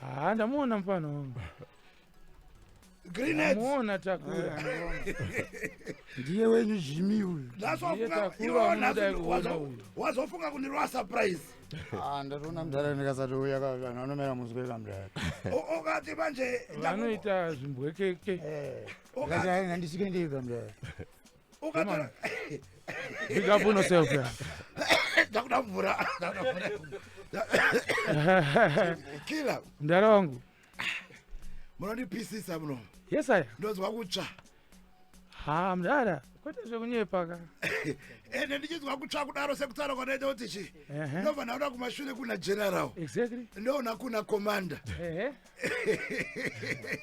haa ndamuona mfana wangu muona takura ndiye wenyu jimi uyu wazofunga kundirova surprise ah, ndatoona mdhara ndikasati uya vanhu vanomera muzwe kamdhara ukati manje vanoita zvimbwekeke eh. ndandisike ndiri kamdhara Ukatora Big up on yourself. Yeah. ndakuda mvura. ndakuda mvura. Killer, Mdara wangu. munondipisisa muno. Yes I. Ndonzwa kutsva. Ha mdara. Kwete zvekunyepa ka. Ende ndichinzwa kutsva kudaro sekutaura kwanoita kuti chi. Ehe. Ndobva ndaona kumashure kuna general. Exactly. Ndoona kuna commander. Ehe.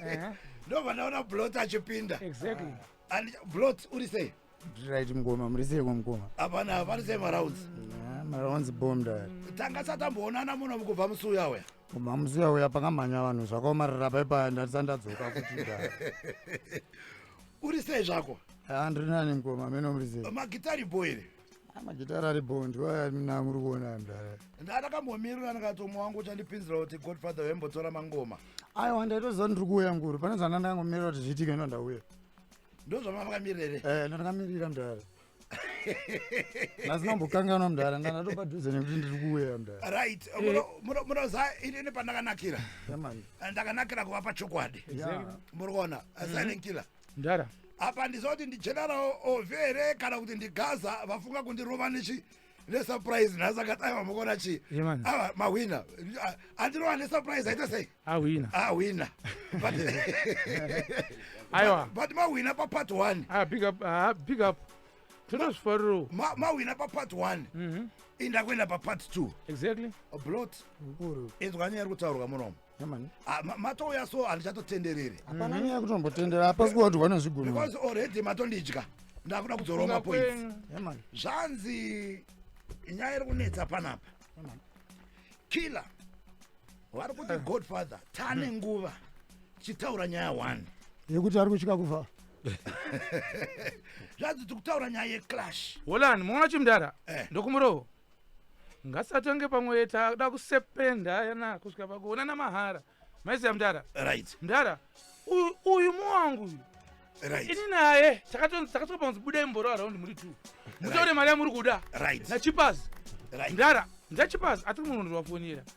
Ehe. Ndobva ndaona blot achipinda. Exactly. And Blot uri sei? Right mkoma muri sei mkoma? Hapana hapana sei marounds. Yeah, marounds bomb dad. Tanga satamboonana muno mukubva musuya uya. Kubva musuya uya pakamhanya vanhu zvakaomarara pai paya ndatisandadzoka kuti dad. Uri sei zvako? Ah, ndiri nani mkoma meno muri sei? Magitari boy iri. magitara ari bondwa namuri kuona mdara ndatakambomirira ndikatomwa wangu uchandipinzira kuti godfather wembotora mangoma aiwa ndaitoziva ndiri kuuya nguru pane zvana ndangomirira kuti zviitike ndo ndauya ndozvamamakamirere e eh, ndandakamirira mdara asi nambokanganwa mdara ndanatopadhuze nekuti ndiri kuuya mdara right munoza inini pandakanakira ndakanakira kuva pachokwadi muri kuona mm-hmm. silent killer mdara apa handiziva kuti ndigeneral ove here kana kuti ndigaza vafunga kundirova nechi nesurprise nhasi akadai vamukona chii ava mahwina andirova nesurprise aita sei ahwina ahwina but aiwa but mahwina papart one ah, big up ah, big up tinozvifariro mahwina papart one mhm. inda kuenda papart two exactly blot inzwani yari kutaurwa munomo Ah, matouya so handichatotenderere hapana mhm. nyaya kutombotendera hapasi kuva kuti vanozvigona because already matondidya ndakuda kudzorwa mapoints zvanzi nyaya iri kunetsa panapa killer vari kuti eh. godfather tane mhm. nguva tichitaura nyaya one yekuti ari kutyika kufa zvanzi tikutaura nyaya yeclash holani muona chimdara eh. ndokumurovo ngasatonge pamwe yeta akuda kusependa yana kusvika pakuonana mahara maiziva mdara right mdara uyu- uyu muwangu uyu right ini naye takato- takatoka panzi budai mboro araundi muri two mutaure mari yamuri kuda right nachipazi right mdara ndachipazi atiri munhu ndiwafonera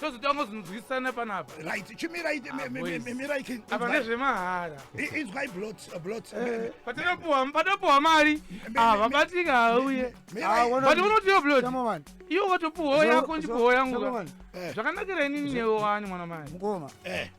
tozotanga zinzwisana panapa right chimirai ah, mirai apa nezvemahara inzwai blot uh, blot eh, patinopuwa patinopuwa mari ava ah, batika hauye but unotiyo blot iwo watopuwa yako ndipuwa yangu eh. zvakanakira inini newe wani mwana mai mukoma eh.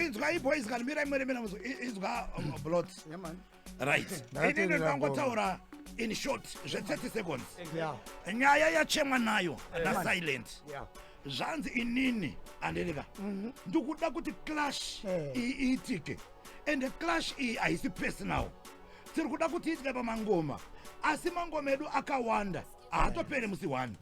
inzwai boys kana mirai mweremera muzo inzwa um, blot right ini ndinotangotaura in short zve 30 seconds nyaya yachemwa nayo nasilent zvanzi inini andirika mhm. ndikuda kuti clash eh. iyi iitike and clash iyi haisi personal tiri kuda kuti iitike pamangoma asi mangoma edu akawanda haatopere musi one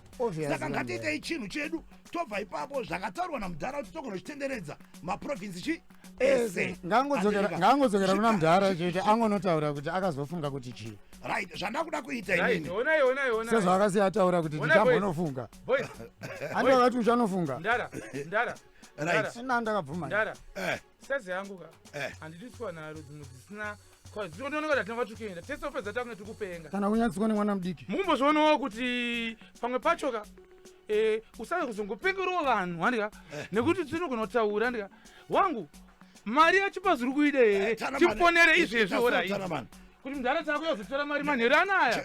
saka ngatiitei chinhu chedu tobva ipapo zvakataurwa namudhara kuti togona uchitenderedza maprovinsi chi ese ngaangodzokera kuna mudhara chete angonotaura kuti akazofunga kuti chii right zvandakuda kuita inisezvaakasiya ataura kuti ndichambonofunga andi akati uchanofunga right ndakabvuma eh. sazi yangu ka eh. handidi siwana rudzi mudzi sina kana unyatsiko nemwana mudiki mukumbozvionawo kuti pamwe pachoka eh, usave kuzongopengerawo vanhu handika eh. nekuti tinogona kutaura handika wangu mari yachipa zviri kuida here eh, tiponere izvezvi orai kuti mudhara taakuya kuzotora mari manheru anaya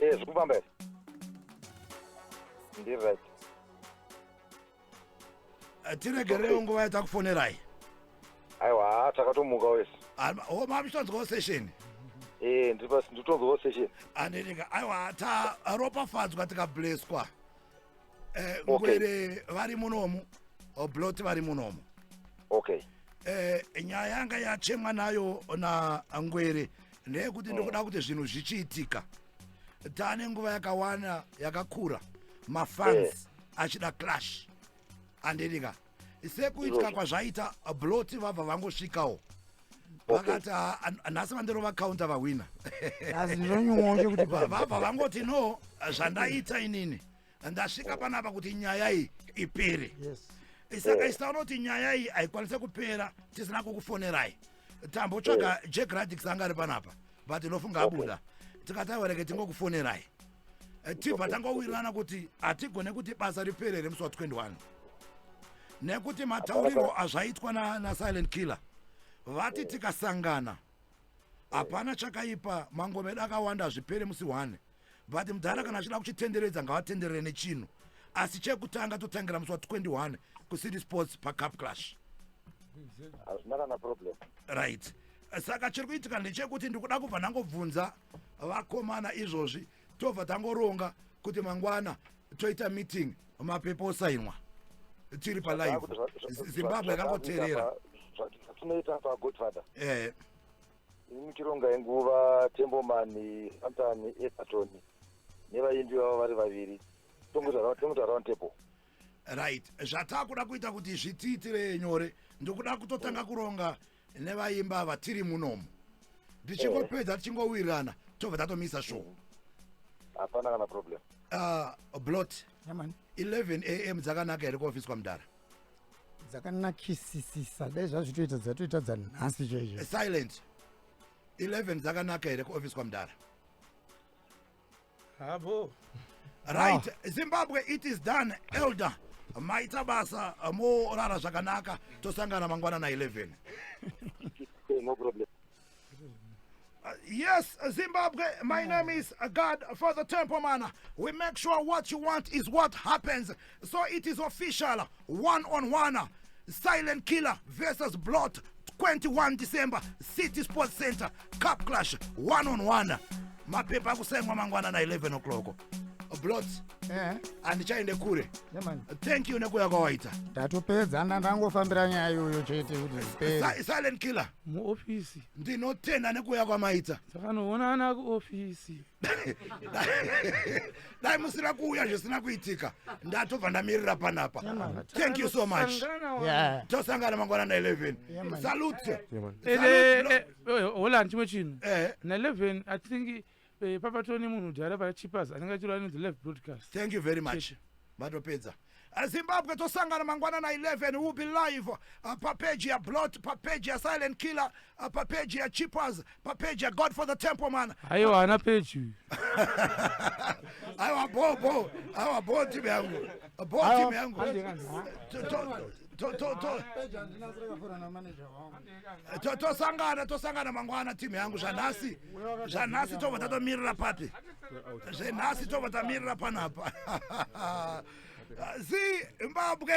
Eh, zvekufamba here ndiri right Eh, tiregerewo nguva yatakufonerai aiwa haa takatomuka wese o mamuchitonzwawo session Eh, ndiri pasi nditonzwawo session andinika aiwa taropafadzwa tikableswa eh, ngwere vari munomu oblot vari munomu okay eh, nyaya yanga yachemwa nayo nangwere ndeyekuti mm. ndikuda kuti zvinhu zvichiitika tane nguva yakawana yakakura mafans eh. achida clash andidika sekuitika kwazvaita blot vabva vangosvikawo vakati ah, ah, nhasi vandirova counter vahwina vabva vangoti no zvandaita inini ndasvika panapa kuti nyaya iyi ipere saka eh. isaona kuti nyaya iyi haikwanise kupera tisina kukufonerai tambotsvaga eh. jack radix anga ari panapa but inofunga abuda tikataureke tingokufonerai eh, tibva tangowirirana kuti hatigone kuti basa ripere here musi wa 21 nekuti mataurirwo azvaitwa nasilent killer vati tikasangana hapana chakaipa mangomeda akawanda hazvipere musi one but mudhara kana achida kuchitenderedza ngavatenderere nechinhu asi chekutanga totangira musi wa 21 kucity sports pacup clash hazvina kana problem right saka chiri kuitika ndechekuti ndikuda kubva ndangobvunza vakomana izvozvi tobva tangoronga kuti mangwana toita meeting mapepo osainwa tiri palive zimbabwe yakangoterera zvatinoita pagodfather eh. ini tironga yenguva tembomani santani epaton nevaimbi vavo vari vaviri tongoita round table right zvatakuda kuita kuti zvitiitire nyore ndokuda kutotanga kuronga nevaimba ava tiri munomu ndichingopedza tichingowirirana tobva tatomisa show hapana kana problem Ah, blot Yeah, man. 11 am dzakanaka here kuofiswa mudhara dzakanakisisisa dai zvazvitoita dzatoita dzanhasi chaizvo silent 11 dzakanaka here kuofiswa mudhara habo right ah. zimbabwe it is done elder maita basa morara zvakanaka tosangana mangwana na 11 no problem Uh, yes, Zimbabwe, my name is God for the Temple Man. We make sure what you want is what happens. so it is official one on one silent killer versus blot 21 december city sports center cup clash one on one mapepa akusengwa mangwana na 11 o'clock blot Eh, handichaende kure yeah, man. thank you nekuya kwawaita ndatopedza nda- ndangofambira nyaya iyoyo chete kuti zvipere Si- silent killer muofisi ndinotenda nekuya kwamaita dzakanoonana kuofisi dai musina kuuya zvisina kuitika ndatobva ndamirira panapa thank you so much tosangana mangwana na 11 salute holland chimwe chinhu eh. na 11 i think eh, pavatone munhu dhara pachipas anenge achirova nezi live broadcast thank you very much vatopedza Zimbabwe tosangana mangwana na 11 will be live uh, pa page ya Blot, pa page ya Silent Killer, uh, pa page ya Chippers, pa page ya God for the Temple man. Ayo ana page uyu. Ayo bo bo, ayo bo team yangu. Bo team yangu. Tosangana tosangana mangwana team yangu zvanhasi. Zvanhasi tobva tatomirira papi? zvenhasi tobva tamirira panapa zimbabwe